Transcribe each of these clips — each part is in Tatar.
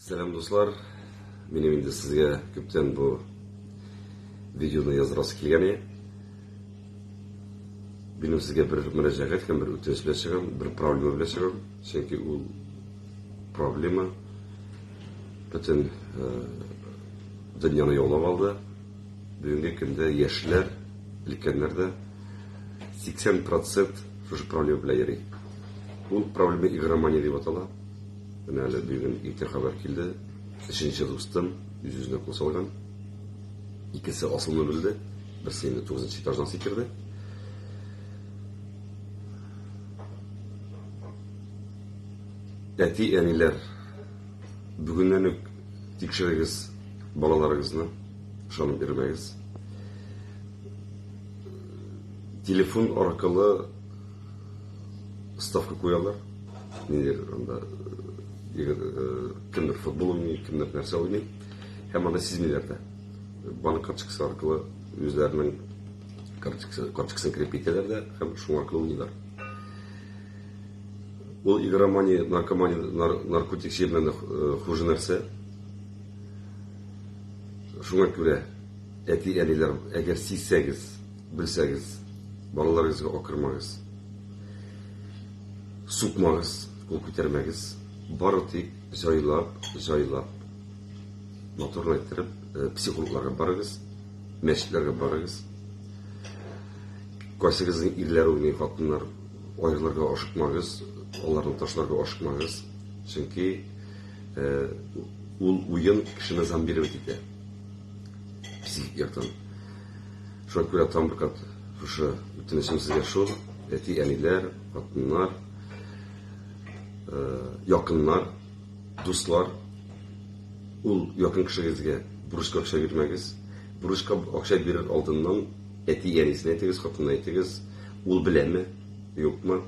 Сәлам дуслар, минем инде сезгә күптән бу видеоны яздырасы килгән иде. Минем сезгә бер мөрәҗәгать һәм бер үтенеч белән чыгам, бер проблема белән чыгам, чөнки ул проблема бөтен дөньяны яулап алды. Бүгенге көндә яшьләр, өлкәннәр дә 80% шушы проблема белән йөри. Ул проблема игромания дип атала. Менә әле бүген иртә хәбәр килде, өченче дустым үз-үзенә кул салган. Икесе асылны белде, берсе инде тугызынчы этаждан сикерде. Әти, әниләр, бүгеннән үк тикшерегез балаларыгызны, ышанып бирмәгез. Телефон аркылы ставка куялар нилер анда егет кемдер футбол уйный кемдер нәрсә уйный һәм аны сизмиләр дә банк карточкасы аркылы үзләренең карточкасын кереп китәләр дә һәм шуң аркылы уйныйлар ул игромания наркомания наркотик җиреннән дә хуже нәрсә шуңа күрә әти әниләр әгәр сизсәгез Белсәгез, балаларыгызга акырмагыз, сукмагыз, кул күтәрмәгез, бары тик җайлап, җайлап, матурлайтырып, психологларга барыгыз, мәчетләргә барыгыз. Кайсыгызның ирләр уйный, хатыннар аерылырга ашыкмагыз, аларны ташларга ашыкмагыз, чөнки ул уен кешене зомбировать итә психик яктан. Шуңа күрә тагын бер кат шушы үтенечем сезгә шул, әти-әниләр, хатыннар, якыннар, дуслар, ул якын кешегезгә бурычка акча бирмәгез. Бурычка акча бирер алдыннан әти-әнисенә әйтегез, хатынына әйтегез, ул беләме, юкмы.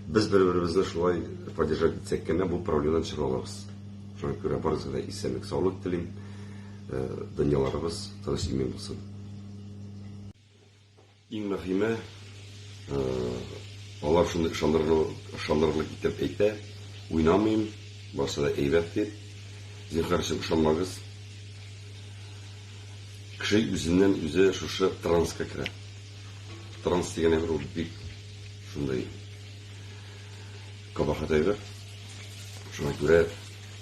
Без бер-беребезне шулай поддержать итсәк кенә, бу проблемадан чыга алабыз. Шуңа күрә барыгызга да исәнлек, саулык телим. Дөньяларыбыз тыныч имин булсын. Иң мөһиме, алар шуны ышандырырлык итеп әйтә, уйнамыйм, барсы да әйбәт дип. Зинһар өчен ышанмагыз. Кеше үзеннән үзе шушы транска керә. Транс дигән әйбер ул бик шундый кабахат әйбер. Шуңа күрә